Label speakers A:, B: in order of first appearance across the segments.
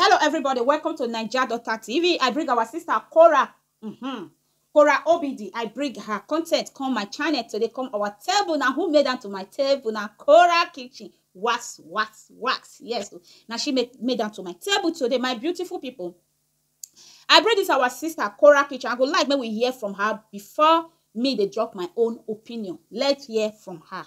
A: Hello everybody, welcome to Naija Daughter TV. I bring our sister Cora. Mm-hmm. Cora Obidi, I bring her content come my channel today, come our table now. Who made am to my table now? Cora Kitchen. Wax, wax, wax. Yes. Now she made, made am to my table today, my beautiful people. I bring this our sister Cora Kitchen. I go like make we hear from her before me dey drop my own opinion. Let's hear from her.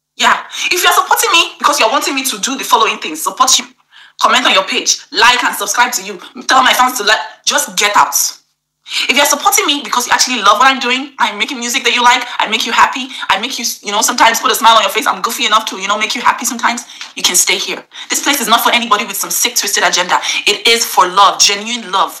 A: Yeah if you're supporting me because you're wanting me to do the following things support you comment on your page like and subscribe to you tell my fans to like just get out if you're supporting me because you actually love what I'm doing, I'm making music that you like, I make you happy, I make you, you know, sometimes put a smile on your face, I'm goofy enough to, you know, make you happy sometimes, you can stay here. This place is not for anybody with some sick, twisted agenda. It is for love, genuine love.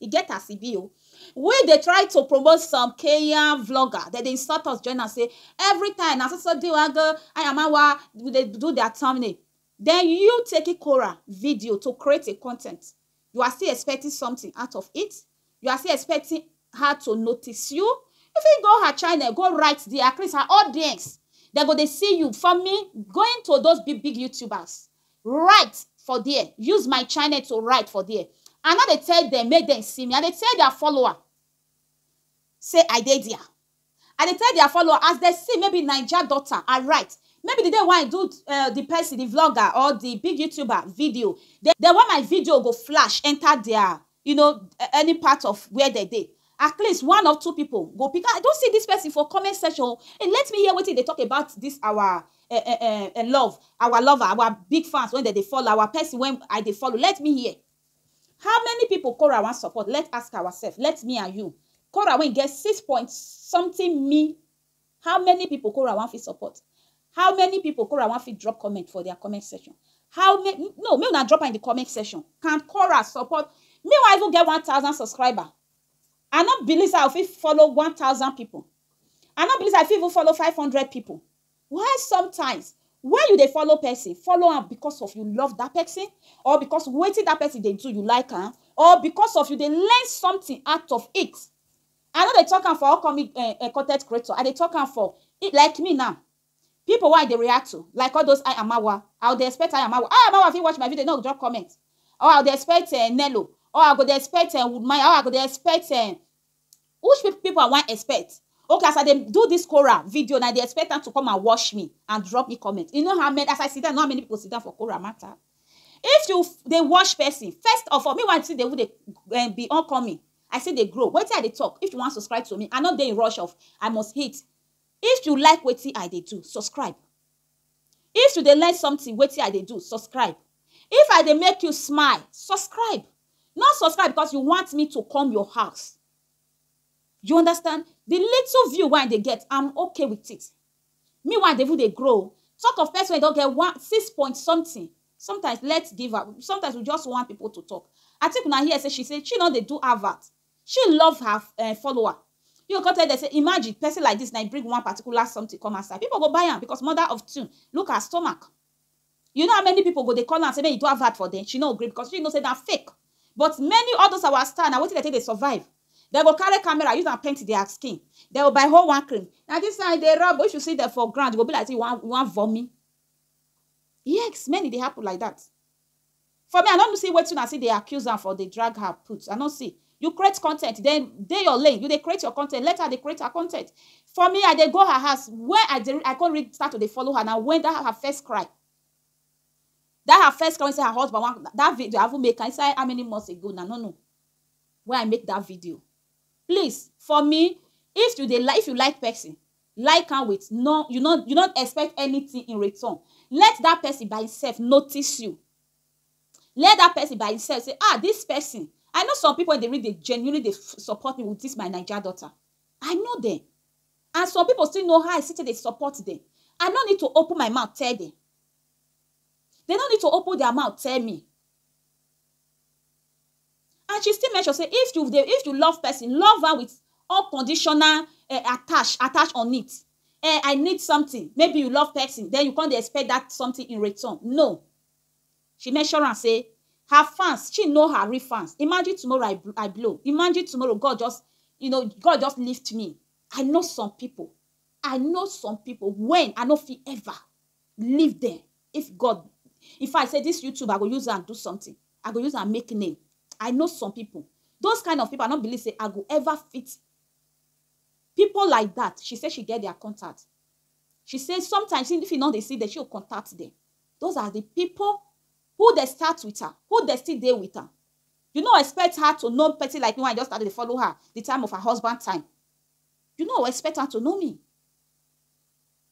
A: E get as e be o. We dey try to promote some Kenyan vlogger, dem dey insult us join am say every time na so so di wan go Ayamawa we dey do their thumbnail. Then you taking Korah video to create a content, you are still expecting something out of it? You are still expecting her to notice you? You fit go her channel go write there at least her audience dem go dey see you for me going to those big big YouTubers write for there use my channel to write for there i no dey tell dem make dem see me i dey tell their follower say i dey there i dey tell their follower as dem see maybe naija daughter i write maybe the day wey i do uh, the person the vlogger or the big youtuber video the, the way my video go flash enter their you know any part of where they dey at least one or two people go pick i don see this person for comment section oh and let me hear wetin e dey talk about this our eh, eh, eh, eh, love our lover our big fans when dem dey follow our person when i dey follow let me hear how many people Cora wan support let's ask ourselves let me and you Cora wey get six point something me How many people kora wan fit support? How many people kora wan fit drop comment for their comment section? How ma no make una drop am in the comment section. Can kora support me wan even get one thousand subscriber I no believe say I go fit follow one thousand people I no believe say I fit even follow five hundred people why sometimes when you dey follow person follow am because of you love that person or because wetin that person dey do you like am or because of you dey learn something out of it I no dey talk am for all comic um content creator, I dey talk am for like me now, people wey I dey react to like all those I Amawa, I go dey expect I Amawa, I Amawa fit watch my video, e no go just comment or I go dey expect um Nello or I go dey expect um Woodmaya or I go dey expect um which people I wan expect? Okay as I dey do this Quora video now, I dey expect am to come and watch me and drop me comment, you know how many as I sit down, you know how many people sit down for Quora matter? If you dey watch person, first of all, meanwhile you still dey even dey be upcoming, I still dey grow wetin I dey talk if you wan subscribe to me I no dey in rush of I must hit if you like wetin I dey do subscribe if you dey learn something wetin I dey do subscribe if I dey make you smile subscribe no subscribe because you want me to come your house you understand the little view wey I dey get I'm okay with it Meanwhile, dey even dey grow o. Talk of person wey don get one six point something, sometimes let's give her, sometimes we just want people to talk. Atiku na hear say she say she no dey do advert, she love her um follower. He go come tell dem say imagine person like this na him bring one particular something come outside, people go buy am because mother of two look her stomach. You know how many people go dey call am say make he do advert for dem, she no gree because she know say na fake but many all those our star na wetin dem take dey survive, dem go carry camera use am paint their skin, dem go buy whole one cream, na this one I dey rub o, if you see dem for ground e go be like say you wan you wan vommy, yes many dey happen like that. For me I no see wetin una still dey accuse am for dey drag her put I no see you create content then dey your lane you dey create your content let her dey create her content for me I dey go her house when I dey I come start to dey follow her na when that her first cry that her first cry wey say her husband wan that video I even make am inside how many months ago na no no wey I make that video please for me if you dey like if you like person like am with no you no you no expect anything in return let that person by himself notice you let that person by himself say ah this person i know some people dey really dey genuinely dey support me with this my naija daughter i know them and some people still know how i still dey support them i no need to open my mouth tell them they no need to open their mouth tell me and she still mention say if you dey if you love person love am with unconditional eh, attach attach on it eh, i need something maybe you love person then you come dey expect that something in return no she mention am say her fans she know her real fans imagine tomorrow i, bl- I blow imagine tomorrow god just you know god just lift me i know some people i know some people when i no fit ever leave dem if god in fact say this youtube i go use am do something i go use am make name i know some people those kind of people i no believe say i go ever fit people like that she say she get their contact she say sometimes if you no dey see them she go contact them those are the people who dey start with her who dey still dey with her you no expect her to know person like me when i just started to follow her the time of her husband time you no expect her to know me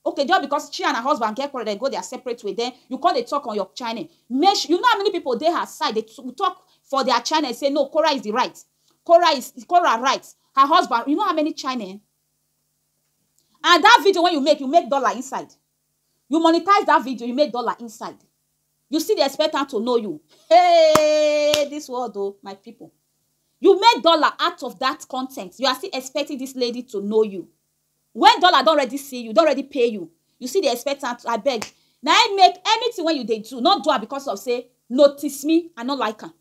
A: Okay just because she and her husband get quarrel dem go their separate way then you come dey talk on your channel make sure you know how many people dey her side dey talk for their channel say no Kora is the right Kora is Kora right her husband you know how many channel and that video wey you make you make dollar inside you monetize that video you make dollar inside you still dey expect am to know you hey this world oh my people you make dollar out of that content you are still expecting this lady to know you When dollar don ready see you, don ready pay you, you still dey expect am to abeg na im make anything wey you dey do no do am because of say notice me I no like am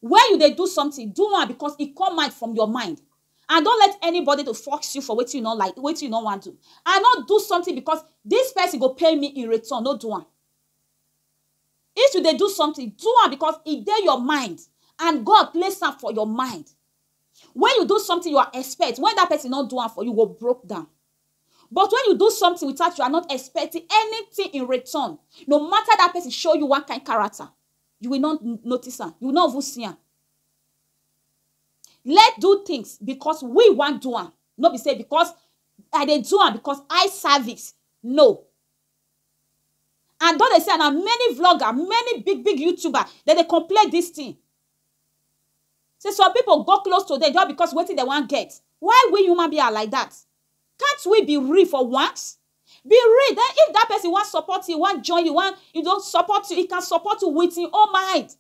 A: when you dey do something do am because e come out from your mind and don't let anybody to force you for wetin you no like wetin you no wan do and no do something because this person go pay me in return no do am if you dey do something do am because e dey your mind and God place am for your mind Wen you do something you are expect wen dat person no do am for you, you go broke down. But wen you do something without you are not expecting anything in return, no matter dat person show you one kind character, you will not notice am, you will not even see am. Let do things because we wan do am, no be sey because I dey do am because eye service, no. And don dey see am na many vlogger, many big big youtuber dem dey complain dis thing. Say some people go close to them just because wetin dem wan get. Why we human being are like that? Can't we be real for once? Be real. Then if that person wan support you, wan join you, wan you know support you, he can support you with him own mind.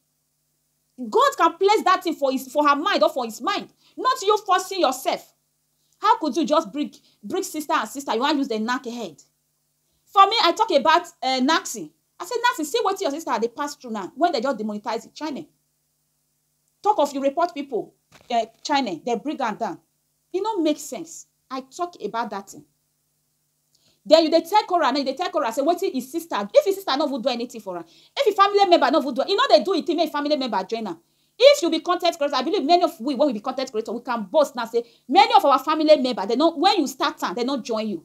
A: God can place that thing for his for her mind or for his mind, not you forcing yourself. How could you just bring bring sister and sister? You wan use them knack head? For me I talk about um Naxi, I say Naxi see wetin your sister dey pass through now when dem just demonetize the channel. Talk of you report people um channel, dem bring am down. E no make sense, I talk about that thing. Then you dey tell Korah now, you dey tell Korah say wetin e sister, if e sister no even do anything for am, if e family member no even do, e no dey do e thing make e family member join am. If you be con ten t creator, I believe many of we wey we be con ten t creator, we can boast now say many of our family member dem no, when you start am, dem no join you.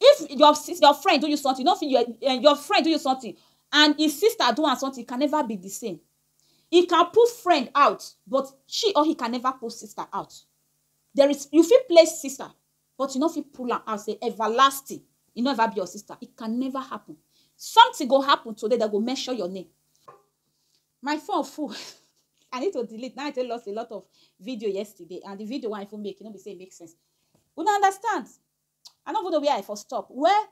A: If your sis your friend do you something, you no fit your um your friend do you something and im sister do am something, e can never be the same. He can put friend out but she or he can never put sister out. There is you fit play sister but you no fit pull am out say everlasting e no ever be your sister, it can never happen. Something go happen today dem go mention your name. My phone full I need to delete na I take lost a lot of video yesterday and the video wey I even make e no be sey e make sense. Una understand? I no even know where I for stop. Well,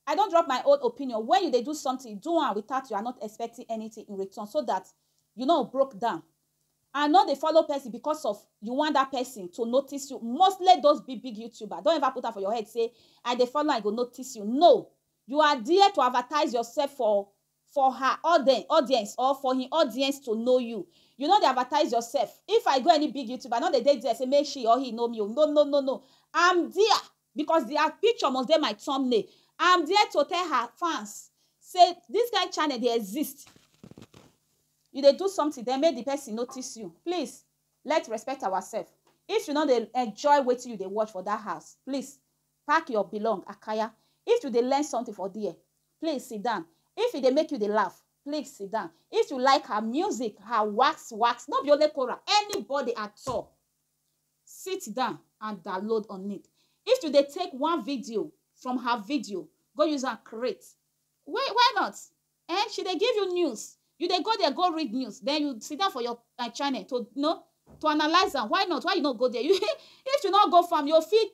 A: I don drop my own opinion, when you dey do something, do am without you are not expecting anything in return so that you no broke down and no dey follow person because of you want that person to notice you, mostly those big big youtuber, don't ever put am for your head say I dey follow am e go notice you, no, you are there to advertise yourself for for her auden audience or for hin audience to know you you no dey advertise yourself if I go any big youtuber I no dey dey there say make she or he know me o no no no no I'm there because their picture must dey my thumbnail I'm there to tell her fans say this kind channel dey exist you dey do something then make the person notice you please let's respect ourselves if you no dey enjoy wetin you dey watch for that house please Pack your belong akaya If you dey learn something for there Please sit down If e dey make you dey laugh Please sit down If you like her music Her wax wax No be only Kora Anybody at all Sit down and download on it If you dey take one video From her video Go use am create Why why not Ehn she dey give you news You dey go there go read news Then you sit down for your her channel to know To analyse am Why not Why you no go there You If you no go fam You fit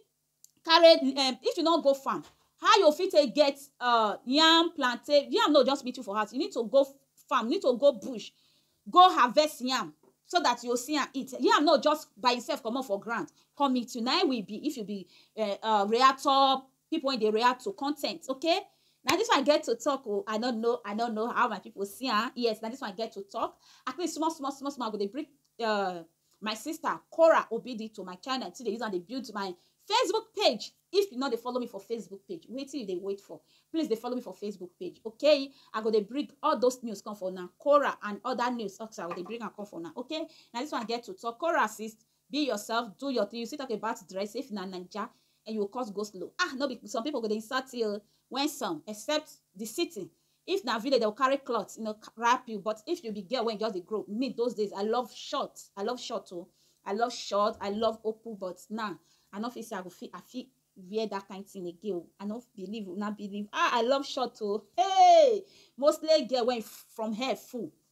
A: carry di um if you no go farm how you fit take get um yam, plantain, yam no just meet you for house you need to go farm, you need to go bush go harvest yam so dat you go see am eat, yam no just by imself comot for ground come meet you naim we be if you be um reactor pipu wey dey react to con ten t okay na dis one I get to talk o I no know I no know how my pipu see am yes na dis one I get to talk at least small small small small I go dey bring um my sister cora obidi to my channel to dey use am dey build my facebook page if you no dey follow me for facebook page wetin you dey wait for please dey follow me for facebook page okay i go dey bring all those news come for una cora and other news also i go dey bring am come for una okay na this one get to talk cora sis be yourself do your thing you still talk about dress if na naija and you cause go slow ah no be some people go dey insult you when some except the city If na village dem go carry cloth you know wrap you but if you be girl wen just dey grow me those days I love short I love short o I love short I love open but now I no fit say I go fit I fit wear that kind thing again o I no believe una believe ah I love short o hey mostly girl wen from hair full